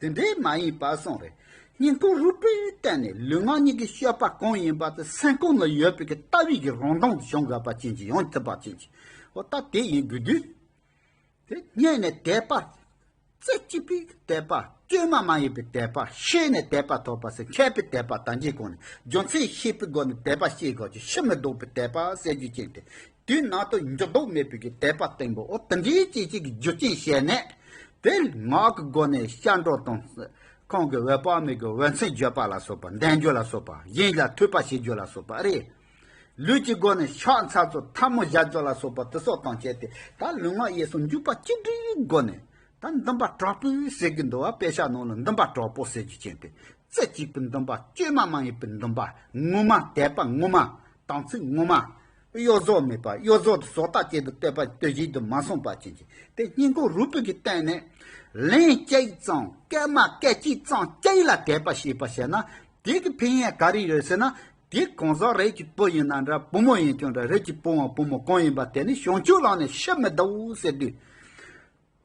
དེ་འདྲས་མ་ཡིན་པར་སོང་རེ་སྙིང་ཀུ་རུ་པས་བལྟས་ནས་ལུས་ངག་གཉིས་ཀྱི་སྤྱོད་པ་གང་ཡིན་པ་དེ་སེམས་ཁོང་ན་ཡོད་པའི་ལྟ་བས་ཀྱི་རང་མདངས་དེ་བྱུང་དགོས་པ་ཅན་གྱི་ཡང་ཐུབ་པ་ཅན་གྱི་འོ་ད་དེ་ཡིན་དགོས་དུས་དེ་རྙེད་ནས་དད་པ་རྩེ་གཅིག་པའི་དད་པ་བཅོས་མ་མ་ཡིན་པའི་དད་པ་ཤེས་ནས་དད་པ་ཐོབ་པ་སེ་མཁས་པའི་དད་པ་དང་གཅིག་གོང་ནས་རྒྱུ་མཚན་ཤེས་པའི་སྒོ་ནས་དད་པ་ཤེས་དགོས་ཀྱི་ཕྱི་མི་ལྡོག་པའི་དད་པ་སེལ་རྒྱུ་ཅན་དེ་དུས་ནང་དུ་འགྱུར་ལྡོག་མེད་པའི་དད་པ་བརྟན་པོ་དེ་འདྲའི་སྐྱེ་མཆེད་ཀྱི་རྒྱུ་རྐྱེན་བཤད་ནས། དེར་ངག་གི་སྒོ་ནས་ཤར་འགྲོ་དང། གང་གི་འོད་དཔག་མེད་ཀྱི་འོད་མཚན་བརྗོད་པ་ལ་སོགས་པ་བདེན་བརྗོད་ལ་སོགས་པ་གཞན་ལ་ཐོས་པ་ཤེས་བརྗོད་ལ་སོགས་པ་རེད། ལུས་ཀྱི་སྒོ་ནས་ཕྱག་མཚལ་གཙོ་འཐབ་མོ་བཞག་བརྗོད་ལ་སོགས་པ་དེ་སོགས་དང་བཅས་ཏེ་ད་ལུས་ངག་གཡས་སུ་འཇུག་པ་གཅིག་སྒྲིལ་གྱི་སྒོ་ནས་ད་འདུན་པ་དྲག་པོའི་ཟེར་གྱི་འདུལ་བ་དཔེ་ཆ་ནང་ལ་འདུན་པ་དྲག་པོ་ཟེར་རྒྱུ་ཅན་ཏེ་རྩེ་གཅིག་པའི་འདུན་པ་བཅོས་མ་མ་ཡིན་པའི་འདུན་པ་ངོ་མ་དད་པ་ངོ་མ་དམ་ཚིག་ངོ་མ། གཡོ་ཟོག་མེད་པར་གཡོ་ཟོག་དུ་ཟོག་རྟགས་ཅན་དུ་བསྟོད་པ་དུས་བཞིན་དུ་མ་གསུངས་པར་བྱིན་ཅིག་དེ་སྙིང་གོ་རུ་བུད་ཀྱིས་བསྟན་ནས། ལན་གཅིག་ཙམ་སྐད་མ་སྐད་ཅིག་ཙམ་གཅིག་ལ་དད་པ་ཞེས་པ་བྱས་ན་དེ་གི་ཕན་ཡན་ག་རེ་ཡོད་ཟེར་ན་དེ་གང་ཟག་རིགས་ཀྱི་བུ་ཡིན་ན་འདྲ་བུ་མོ་ཡིན་ཀྱང་འདྲ་རིགས་ཀྱི་བུའང་བུ་མོ་གང་ཡིན་པ་དེ་ནི་བྱང་ཆུབ་ལགས་ནས་ཤི་མི་བདའོ་ཟེར་དུས།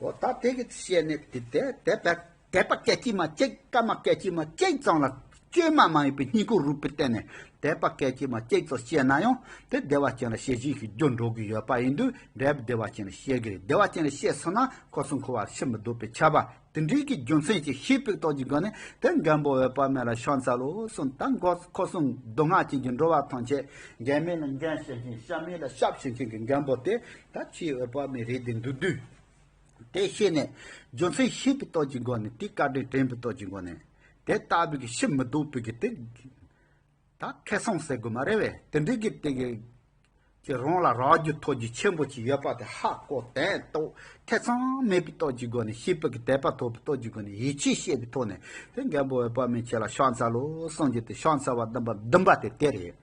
འོ་ད་དེ་གི་བཤད་ནི་དེ་དེ་དེ་བེད། དད་པ་སྐད་ཅིག་མ་གཅིག་སྐར་མ་སྐད་ཅིག་མ་གཅིག་ཙམ་ལ་བཅོས་མ་མ་ཡིན་པའི་སྙིང་པོ་རུས་པའི་སྟེང་ནས་དད་པ་སྐད་ཅིག་མ་གཅིག་ཙམ་བཤད་ན་ཡང་དེ་བདེ་བ་ཅན་ལ་བཤད་བཞིན་ཞིག་རྒྱུར་འགྲོ་གི་ཡོད་པ་ཡིན་དུས་འབྲས་བུ་བདེ་བ་ཅན་ལ་བཤད་གི་རེད་བདེ་བ་ཅན་ལ་བཤད་ཚར་ན་ཁོ་ཚོ་འཁོར་བར་ཕྱིར་མི་ལྡོག་པའི་ཁྱབ་པ་དེ་འདྲིའི་གི་རྒྱུ་མཚན་ཅིག་ཤེས་པའི་རྟོགས་ཀྱི་སྒོ་ནས་དེ་མགོན་པོ་འོད་དཔག་མེད་ལ་ཕྱག་འཚལ་ལོ་གསུངས་ད་འགོ་ཁོ་ཚོ་མདོ་སྔགས་ཅན་གྱི་འགྲོ་བ་ཐམས་ཅད་འགན་མེད་ལ་འགན་བྱེད་ཅིང་ཞབས་མེད་ལ་ཞབས་ཞུ་མཁན་གྱི་མགོན་པོ་དེ་ད་ཁྱེད་འོད་དཔག་མེད་རེད་དེ་འདུག་དུས། དེ་ཤེས་ནས་རྒྱུ་མཚན་ཤེས་པའི་སྟོབས་ཀྱི་སྒོ་ནས་དེའི་བཀའ་དྲིན་དྲན་པའི་སྟོབས་ཀྱི་སྒོ་ནས། དེ་ལྟ་བུའི་གི་ཤི་མི་སྡུག་པའི་གི་དེ། ད་ཁེ་སོང་ཟེར་དགོས་མ་རེད་བས་དེ་འདྲའི་གི་དེ། ཀྱི་རང་ལ་རག་རྒྱུ་ཐོགས་རྒྱུ་ཆེན་པོ་ཅིག་ཡོད་པ་དེ་ཧ་གོ་དན་ཏོག་ཐེ་ཚོམ་མེད་པའི་སྟོབས་ཀྱི་སྒོ་ནས་ཤེས་པའི་གི་དད་པ་ཐོབ་པའི་སྟོབས་ཀྱི་སྒོ་ནས་ཡིད་ཆེས་བཤད་པའི་ཐོག་ནས་དེ་རྒན་པོ་འོད་དཔག་མེད་ཁྱེད་ལ་ཤ་འཚལ་ལོ་གསུངས་རྒྱུ་དེ་ཤ་འཚལ་བ་བདུན་པ་བདུན་པ་དེ་དེ་རེད།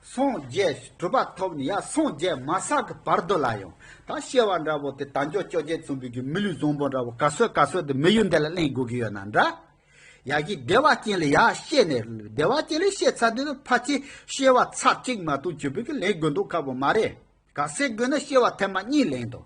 སངས་རྒྱས་གྲུབ་པ་ཐོབ་ནས་ཡང་སངས་རྒྱས་མ་བསགས་ཀྱི་བར་དུ་ལ་ཡང་དག་བཤད་བ་འདྲ་བོ་དེ་དལ་འབྱོར་བཅོ་བརྒྱད་རྩོམ་པོའི་རྒྱུད་མི་ལུས་བཟང་པོ་འདྲ་བོ་ག་ཚོད་ག་ཚོད་དུ་མི་ཡུལ་འདི་ལ་གླེང་དགོས་ཀྱི་ཡོད་ན་འདྲ། ཡག་གི་བདེ་བ་ཅན་ལས་ཡག་བཤད་ནས་བདེ་བ་ཅན་ལས་བཤད་ཚར་དུས་ན་ཕ་ཆེ་བཤད་བ་ཚར་གཅིག་མ་གཏོགས་བྱེད་པོས་ཀྱི་ལེན་དགོས་འདུག་ཁག་པོ་མ་རེད་ག་ཚད་དགོས་ན་བཤད་བ་ཐེངས་མ་གཉིས་ལེན་དང།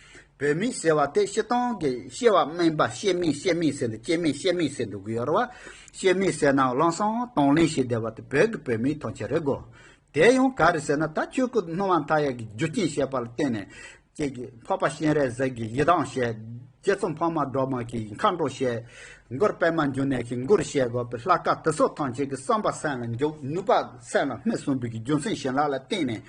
བོད་མི་ཟེར་བ་དེ་ཤི་སྟོང་གི་ཤི་བ་སྨན་པ་ཤེས་མེད་ཤེས་མེད་ཟེར་འདུག་སྐྱེས་མེད་ཤེས་མེད་ཟེར་འདུག་གཡོར་བ་ཤེས་མེད་ཟེར་ན་བླངས་སོང་གཏོང་ལེན་བྱེད་བསྡད་པ་དེ་བོད་ཀྱི་བོད་མིའི་ཐོངས་མཆན་རེད་གོ། དེ་ཡང་ག་རེ་ཟེར་ན་ད་ཆོས་སྐུ་སྣང་བ་མཐའ་ཡས་ཀྱི་རྒྱུ་རྐྱེན་བཤད་པ་ལ་བརྟེན་ནས་ཁྱེད་ཀྱི་འཕགས་པ་སྤྱན་རས་གཟིགས་ཀྱི་ཡི་དྭགས་བཤད། རྗེ་ཙོང་འཕགས་མ་སྒྲོལ་མ་གྱི་མཁའ་འགྲོ་བཤད། མགུར་པད་མ་འབྱུང་གནས་ཀྱི་མགུར་བཤད་དགོས་པའི་ལྷ་སྐལ་དེ་ཚོ་ཐམས་ཅད་ཀྱི་བསམ་པ་སེམས་ལ་འཇུག་ནུས་པ་སེམས་ལ་སྨིན་གསུངས་པའི་རྒྱུ་མཚན་བྱིན་རླབས་ལ་བརྟེན་ནས་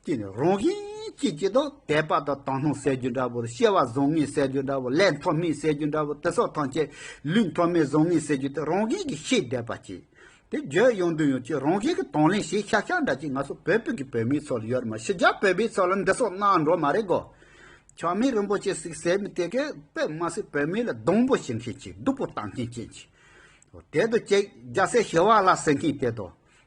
ཀྱི་ནི་རང་བཞིན་གཅིག་ཅེས་དང་དད་པ་དང་དང་སྣང་གསལ་རྒྱུ་འདྲ་བོར་ཤེས་པ་བཟང་ངན་གསལ་རྒྱུ་འདྲ་བོ་ལས་མཐོ་དམན་གསལ་རྒྱུ་འདྲ་བོ་དེ་སོགས་ཐམས་ཅད་ལུས་མཐོ་དམན་བཟང་ངན་གསལ་རྒྱུ་དེ་རང་བཞིན་གྱིས་ཤེས་བསྡད་པ་ཅི། དེ་བརྗོད་ཡོང་དོན་ཡོང་ཆེད་རང་བཞིན་གྱི་དང་ལེན་ཞེས་ཤག་ཤག་འདྲ་ཅིག་ང་ཚོ་བོད་ཕུད་ཀྱི་བོད་མིའི་ཚོར་ཡོད་རེད་མ་ཕྱི་རྒྱ་བོད་པའི་ཚོར་ལ་འདི་སོགས་གནང་འགྲོ་མ་རེད་གོ། ཆགས་མེད་རིན་པོ་ཆེ་སིག་ཟེར་མི་དེ་གས་པས་མ་སིག་བོད་མི་ལ་སྡོང་པོ་བྱེད་མཁན་གྱི་སྡུག་པོ་བཏང་མཁན་ཅན་གྱི། དེ་དུ་ཅིག་རྒྱ་སེ་ཞི་བ་ལ་ཟེར་མཁན་དེ་དང།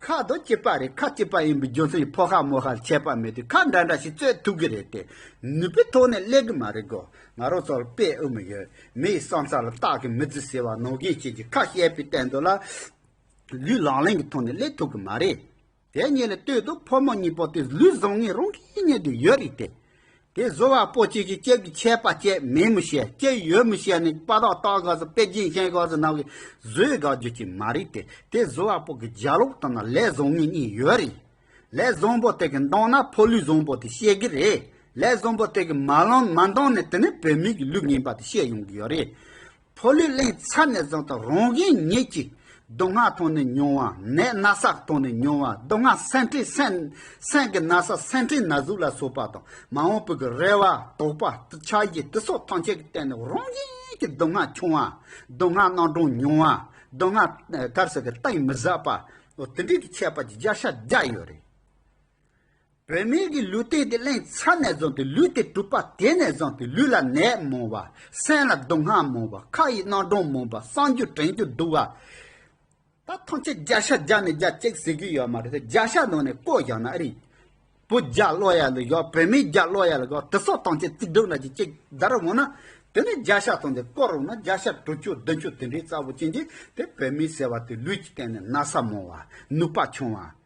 ཁ་དོག་སྐྱིད་པ་རེད་ཁ་སྐྱིད་པ་ཡིན་པའི་རྒྱུ་མཚན་གྱིས་ཕོ་ཤ་མོ་ཤ་ལ་ཆད་པ་མེད་དུས་ཁ་འདྲ་འདྲ་ཞིག་རྩོད་ཐུབ་གི་རེད་དེ་ནུས་པའི་ཐོག་ནས་སླེབས་གི་མ་རེད་གོ་ང་རང་ཚོ་ལ་དཔེ་དབུ་མ་ཡོད་མི་ཡི་བསམ་ས་ལ་བརྟག་གི་མི་རྩི་ཟེར་བ་ནང་བཞིན་ཁྱེད་ཀྱིས་ཁ་བཤད་པའི་སྟེང་དུ་ལ་ལུས་ལང་ལེང་གི་ཐོག་ནས་སླེབས་ཐུབ་གི་མ་རེད་དེ་གཉིས་ལ་ལྟོས་དུས་ཕོ་མོ་གཉིས་པོ་དེ་ལུས་བཟང་ངན་རང་གིས་རྙེད་དུ་ཡོད་རེད་དེ། དེ་བཟོ་བ་པོ་གཅིག་གིས་ཁྱེད་ཀྱི་ཆད་པ་བཅད་མེད་མི་ཤེས་ཅི་ཡོད་མི་ཤེས་ནས་དཔའ་རོགས་སྟག་ཤག་སུ་པེ་རྒྱན་ཤན་ཤག་སུ་ནང་གི་བཟོས་དགག་རྒྱུ་གཅིག་མ་རེད་དེ་དེ་བཟོ་བ་པོ་གི་རྒྱ་ལོག་དང་ལས་བཟོ་ངེས་གཉིས་ཡོད་རེད་ལས་བཟོ་པོ་དེ་གི་འདང་ན་ཕོ་ལུས་བཟོ་པོ་དེ་ཤེས་གི་རེད་ལས་བཟོ་པོ་དེ་གི་མ་ལང་མ་འདང་ནས་དེ་ནི་བོད་མིག་གི་ལུགས་ངན་པ་དེ་ཤེས་ཡོང་གི་ཡོད་རེད་ཕོ་ལུས་གླིང་ཚར་ནས་བཟུང་སྟེ་རང་གཞན་གཉིས་ཀྱིས་སྡུག་བསྔལ་མཐོང་ནས་མྱོང་བ་ནད་ན་ཟག་མཐོང་ནས་མྱོང་བ་སྡུག་བསྔལ་སེམས་ཁྲལ་སེམས་ཀྱི་ན་ཟ་སེམས་ཁྲལ་ན་ཟུག་ལ་སོགས་པ་དང་མ་འོངས་པའི་གི་རེ་བ་དོགས་པ་ཆགས་བཞི་བརྟུལ་ཟོག་ཐམས་ཅད་ཀྱི་སྟེང་ནས་རང་བཞིན་གྱི་སྡུག་བསྔལ་ཆུང་བ་སྡུག་བསྔལ་སྣང་གྲོང་ཉུང་བ་སྡུག་བསྔལ་དཀར་ཟས་ཀྱི་སྟེང་མི་ཟ་བ་དེ་འདྲས་ཀྱི་ཁྱད་པར་གྱི་རྒྱ་ཤ་རྒྱག་ཡོད་རེད། བུད་མེད་ཀྱི་ལུས་སྟེ་དེ་ལན་ཚྭ་ནས་བཟུང་སྟེ་ལུས་དེ་གྲུབ་པ་དེ་ནས་བཟུང་སྟེ་ལུས་ལ་ནད་མང་བ། སེམས་ལ་སྡུག་བསྔལ་མང་བ་ཁ་ཡི་སྣང་གྲོང་མང་བ་སངས་རྒྱུ་དྲན་རྒྱུ་སྡུག་བ། ད་ཐམས་ཅད་བརྒྱ་ཤ་བརྒྱ་ནས་བརྒྱ་གཅིག་ཟེར་གྱི་ཡོད་མ་རེད་བརྒྱ་ཤ་ནང་ནས་བསྐོར་བཞག་ན་ཨ་རིག་པོ་བརྒྱ་ཀློག་ཡག་ལ་བཞག་བུད་མེད་བརྒྱ་ཀློག་ཡག་ལ་བཞག་དྲི་སོགས་ཐམས་ཅད་རྩིག་སྒྲོག་ནག་ཅིག་ཅིག་བརྡར་འོང་ན་དེ་ནས་བརྒྱ་ཤ་ཐོན་ཏེ་བསྐོར་འོང་ན་བརྒྱ་ཤ་དྲུག་ཅུ་བདུན་ཅུ་དེ་འདྲའི་རྩ་བོ་ཅན་གྱི་དེ་བུད་མེད་ཟེར་བ་དེ་ལུས་ཀྱི་སྟེང་ནས་ན་ཚ་མང་བ་ནུས་པ་ཆུང་བ།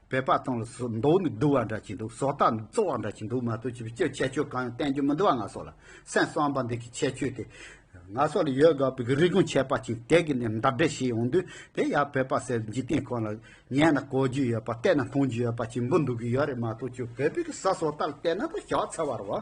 བོད་པ་ཚང་ལ་ཟོག་མདོག་ནི་བསྡུ་བ་འདྲ་གྱིན་འདུག་ཟོག་རྟགས་ནི་བཙོག་བ་འདྲ་གྱིན་འདུག་མ་གཏོགས་ཅི་ཕྱིར་ཁྱད་ཆོས་གང་ཡང་བསྟན་རྒྱུ་མི་འདུག་བ་ང་སོགས་ལ་སེམས་གསོ་བ་འདི་གི་ཁྱད་ཆོས་དེ། ང་སོགས་ལ་ཡོད་དགོས་པ་གི་རིག་གོང་ཆད་པ་ཅིག་དེ་གི་ནས་འདབ་འབྲེལ་བྱས་ཡོང་དུས་དེ་ཡང་བོད་པ་ཟེར་བའི་འཇིག་རྟེན་ཁོ་ན་ལ་ཉན་ན་གོ་རྒྱུ་ཡོད་པ་བལྟས་ན་མཐོང་རྒྱུ་ཡོད་པ་ཅིག་འབུ་འདུག་གི་ཡོད་རེད་མ་གཏོགས་ཁྱོད་བོད་པའི་གི་ཟ་ཟོག་རྟགས་ལ་བལྟས་ན་ད་ཞག་ཚ་བར་བ།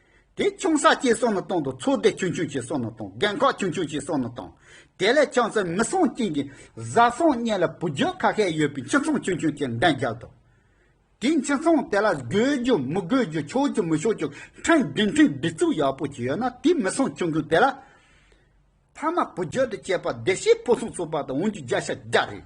དེ་ཆུང་ས་སྐྱའི་སོ་ནུ་དང་དུ་ཚོད་ལྟའི་ཆུང་ཆུང་ཆེའི་སོ་ནུ་དང་རྒན་ཁག་ཆུང་ཆུང་ཆེའི་སོ་ནུ་དང། དེ་ལས་ཆང་ཟོས་མི་སྲང་རྐྱེན་གྱིས་བཟའ་ཚང་གཉིས་ལ་བུ་རྒྱུད་ཁ་ཤས་ཡོད་པའི་ཁྱི་ཚང་ཆུང་ཆུང་ཅིག་འདན་རྒྱག་འདུག་དེའི་ཁྱི་ཚང་དེ་ལ་དགོས་རྒྱུ་མི་དགོས་རྒྱུ་ཆོག་རྒྱུ་མི་ཆོག་རྒྱུ་ཕྲན་བདུན་ཕྲན་བདུན་བཙུགས་ཡག་པོ་ཅིག་ཡོད་ན་དེའི་མི་སྲང་ཆུང་ཆུང་དེ་ལ། ཕ་མ་བུ་རྒྱུད་དུ་སྐྱེས་པ་བདེ་སྐྱིད་ཕུན་སུམ་ཚོགས་པ་དང་འོན་རྒྱུ་བརྒྱ་ཆ་བརྒྱ་རེད།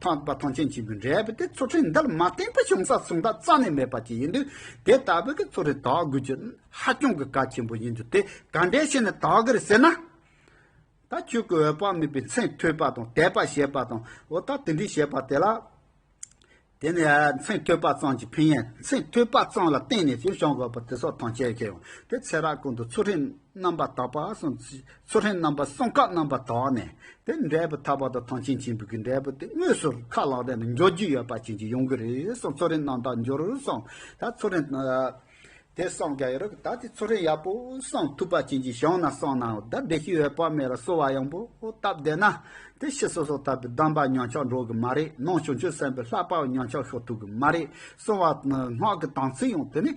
འཕགས་པ་ཐང་ཆེན་ཆེན་པོའི་འགྲེལ་པ་དེ་ཚུར་ཁྲིད་མདའ་ལ་མ་བསྟན་པའི་གཞུང་ས་གསུངས་པ་རྩ་ནས་མེད་པ་ཅིག་ཡིན་དུས་དེ་ལྟ་བུ་གི་ཚུར་ཁྲིད་དག་དགོས་རྒྱུ་ཧ་ཅང་གི་གལ་ཆེན་པོ་ཡིན་དུས་དེ་ག་འདྲའི་ཕྱིར་ནི་དག་གིར་ཟེར་ན། ད་ཁྱོད་ཀྱི་འོད་དཔག་མེད་པའི་མཚན་ཐོས་པ་དང་དད་པ་བྱེད་པ་དང་འོ་ད་དེ་འདྲའི་བྱེད་པ་དེ་ལ། དེ་ནི་མཚན་ཐོས་པ་ཙམ་གྱི་ཕན་ཡིན་མཚན་ཐོས་པ་ཙམ་ལ་བརྟེན་ནས་ཅིར་བྱང་དགོས་པ་དེ་སོགས་ཐང་ཆད་ཀྱི་ཡང་དེ་ཚེ་རགས་ཀུན་ཏུ་ཚུར་ཁྲིད་རྣམ་པ་དག་པ་གསུངས། སོ་ཧྲན་རྣམ་པ་གསུམ་ཁ་རྣམ་པར་དག་ནས་དེ་འབྲས་བུ་ཐར་པ་དང་ཐང་ཆེན་ཆེན་པོའི་གི་འབྲས་བུ་དེ་དངོས་སུ་ཁ་ལག་སྟེང་དུ་འཇོག་རྒྱུ་ཡོད་པ་བྱིན་གྱིས་ཡོང་གི་རེད་སོང་ཚོ་རེན་རྣམ་དག་འབྱོར་སོང་ད་ཚོ་རེན། དེ་སོང་རྒྱ་ཡོད་རེད་ད་དེ་ཚོ་རེན་ཡག་པོ་སོང་ཐུབ་པ་བྱིན་གྱིས་ཡོང་ན་སོང་ན་ད་བདེ་སྐྱིད་ཡོད་པ་མེད་ལ་གསོ་བ་ཡང་པོ་སྟབས་བདེ་ན་དེ་ཤི་སོ་སོ་ད་པའི་གདམས་པ་ཉོན་ཆག་འགྲོ་གི་མ་རེད་ནང་བྱུང་ཆོས་སེམས་པའི་ལྷག་པའང་ཉོན་ཆག་ཤོར་ཐུབ་གི་མ་རེད་སོང་བ་སྔགས་ཀྱི་དམ་ཚིག་ཡང་དེ་ནས།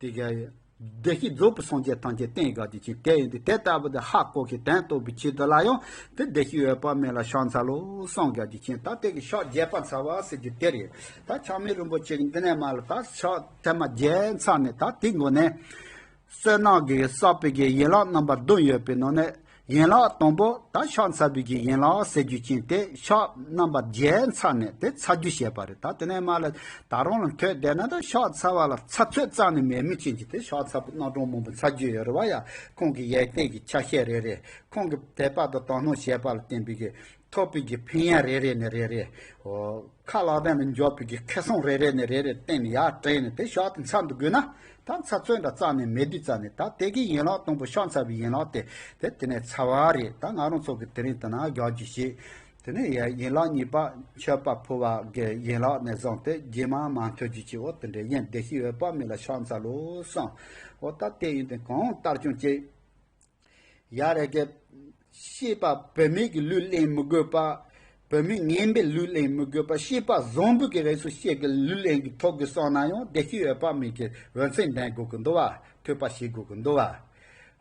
དེ་སྐད་ཡིན། བདེ་གཤེགས་རྫོགས་པའི་སངས་རྒྱས་ཐམས་ཅད་རྟེན་དགའ་བདེ་ཆེན་དེ་ཡིན་ཏེ་དེ་ལྟ་བུ་དེ་ཧ་ལྐོག་གི་དོན་རྟོགས་པའི་ཆེད་དུ་ལ་ཡང་དེ་བདེ་གཤེགས་འོད་དཔག་མེད་ལ་ཕྱག་འཚལ་ལོ། སངས་རྒྱས་བདེ་ཆེན་དང་དེ་གི་ཕྱག་རྒྱས་པར་འཚལ་བ་ཟེར་རྒྱུ་དེ་རེད། ད་ཆགས་མེད་རིན་པོ་ཆེ་གི་འདི་ནས་མ་ལ་ད་ཕྱག་འཚལ་མ་རྒྱས་མཚམས་ནས་ད་དེའི་མགོ་ནས། བསོད་ནམས་ཀྱི་ས་པའི་གི་ཡན་ལག་རྣམ་པ་བདུན་ཡོད་པའི་ནང་ནས། ཡན་ལག་དང་པོ་དང་ཕྱག་འཚལ་དུས་ཀྱི་ཡན་ལག་གསལ་རྒྱུ་ཅན་དེ་ཕྱག་རྣམ་པ་བརྒྱད་འཚལ་ནས་དེ་འཚལ་རྒྱུ་བྱེད་པ་རེད་ད་དེ་ནས་མར་ལ་ད་རུང་ལ་ཐོད་བསྡད་ན་ད་ཕྱག་འཚལ་བ་ལ་ཚ་ཚོད་རྩ་ནས་མེད་མོད་ཅན་གྱི་དེ་ཕྱག་འཚལ་བུ་སྣ་དྲོངས་མང་པོ་འཚལ་རྒྱུ་ཡོད་རེད་བ་ཡ་ཁོང་གི་ཡས་སྟེགས་ཀྱི་ཆ་ཤས་རེ་རེ་ཁོང་གི་དད་པ་དང་དོ་སྣང་བྱེད་པ་ལ་བརྟེན་པའི་གི་ཐོག་བོད་ཀྱི་ཕན་ཡག་རེ་རེ་ནས་རེ་རེ། ཁ་ལག་སྟེང་དུ་འཇོག་བོད་ཀྱི་ཁེ་བཟང་རེ་རེ་ནས་རེ་རེ་སྟེང་ནས་ཡར་དྲན་ནས་དེ་ཞག་དེ་མཚམས་དུ་དགོས་ན། ད་ཚ་བཙོན་འདྲ་བཙགས་ནས་མེ་དུད་བཙགས་ནས་ད་དེ་གའི་ཡན་ལག་དང་པོ་ཤ་ཚ་བའི་ཡན་ལག་དེ་དེ་དེ་ནས་ཚ་བ་རེད་ད་ང་རང་ཚོ་གི་དེ་རིང་དུ་ན་རྒྱག་རྒྱུ་ཞིག་དེ་ནས་ཡན་ལག་གཉིས་པ་མཆོད་པ་ཕུལ་བ་གི་ཡན་ལག་ནས་བཟང་སྟེ་རྗེས་མ་མ་འཐོལ་རྒྱུ་ཅིག་འོ་དེ་འདྲའི་ཡན་བདེ་ཤིག་ཡོད་པ་མིན་ལ་ཤ་ཚ་ལོ་བསམ། འོ་ད་དེ་ཡིན་དེ་གང་ལྟར་ཀྱང་ཅི། ཡག་རེད་ག། ཤེས་པ་བུད་མེད་ཀྱི་ལུས་གླེང་མི་དགོས་པ། བུད་མེད་ངན་པའི་ལུས་གླེང་མི་དགོས་པ་ཤེས་པ་བཟང་པོ་གི་རེ་སུ་ཤེས་གི་ལུས་གླེང་གི་ཐོག་གི་སོང་ན་ཡང་བདེ་སྐྱིད་འོད་དཔག་མེད་ཀྱི་འོད་མཚན་ལྡན་དགོས་ཀྱི་འདུག་བ། ཐོས་པ་ཤེས་དགོས་ཀྱི་འདུག་བ།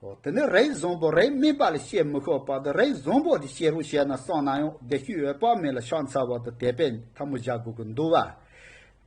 ཨོ་དེ་ནི་རེས་བཟང་པོ་རེས་སྨད་པ་ལ་བཤད་མི་ཤོག་པ་དང་རེས་བཟང་པོ་དེ་ཤེས་རོགས་བཤད་ན་སོང་ན་ཡང་བདེ་སྐྱིད་འོད་དཔག་མེད་ལ་ཕྱག་འཚལ་བ་དང་དད་པའི་འཐབ་མོ་བཞག་དགོས་ཀྱི་འདུག་བ།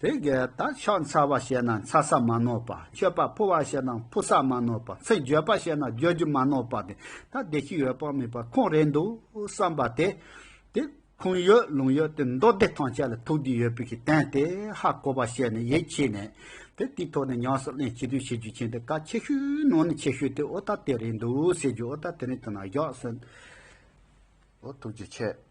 དེ་གའི་ད་ཕྱག་འཚལ་བ་བྱས་ན་འཚལ་ས་མ་ནོར་བ་མཆོད་པ་ཕུལ་བ་བྱས་ན་ཕུལ་ས་མ་ནོར་བ་ཚིག་བརྗོད་པ་བྱས་ན་བརྗོད་རྒྱུ་མ་ནོར་བ་དེ་ད་བདེ་སྐྱིད་ཡོད་དཔག་མེད་པ་ཁོང་རེད་འདུག་བསམ་པ་དེ། དེ་ཁུངས་ཡོད་ལུང་ཡོད་དེ་མདོ་སྡེ་ཐང་ཆད་ལ་ཐུགས་རྒྱུས་ཡོད་པའི་གི་བསྟན་དེ་ཧ་གོ་བ་བྱས་ནས་ཡིད་ཆེས་ནས། དེ་དེའི་ཐོག་ནས་ཉམས་སུ་ལེན་བྱེད་དུས་བྱེད་རྒྱུ་མཁྱེན་དེ་ག་ཆེ་ཤོས་ནང་ནས་ཆེ་ཤོས་དེ་ཨོ་ད་དེ་རེད་འདུག་ཟེར་རྒྱུ་ཨོ་ད་དེ་རིང་དུ་ན་བཞག་ཟེར། ཨོ་ཐུགས་རྗེ་ཆེ།